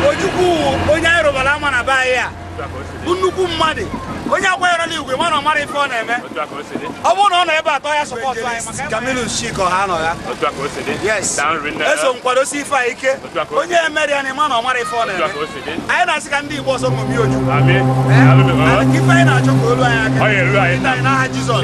Ojukwu onye anyị rụbara ama na be anyị a bụ nnukwu mmadụ onye akwanyere n'igwe mana ọ mara ife ọ na-eme ọ bụrụ na ọ nọ ebe a taa ọ ya sọpọtụ anyị maka Kamilu Shiko ha nọ ya yes eso nkwadosi ife a ike onye emeri ya na ịma na ọ mara ife ọ na-eme anyị na-asị ka ndị Igbo ọzọ ṅomie Ojukwu ife anyị na-achọ ka o lu anyị aka n'aha Jizọs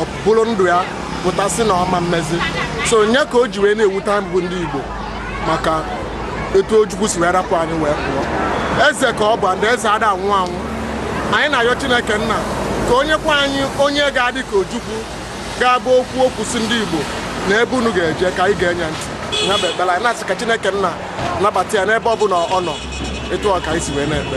o buru ndụ ya pụta sị na ọ ma mezi so nya ka o ji wee na-ewute anyị bụ ndị Igbo maka etu Ojukwu si wee rapụ anyị wee pụọ eze ka ọ bụ ndị eze ada anwụ anwụ anyị na-ayọ Chineke nna ka o nyekwa anyị onye ga-adị ka Ojukwu ga-abụ o kwuo okwu sị ndị Igbo na ebe unu ga-eje ka anyị ga-enye ntị ya bụ ekpere anyị na-asị ka Chineke nna nabata ya n'ebe ọ bụla ọ nọ etu a ka anyị si wee na-ekpe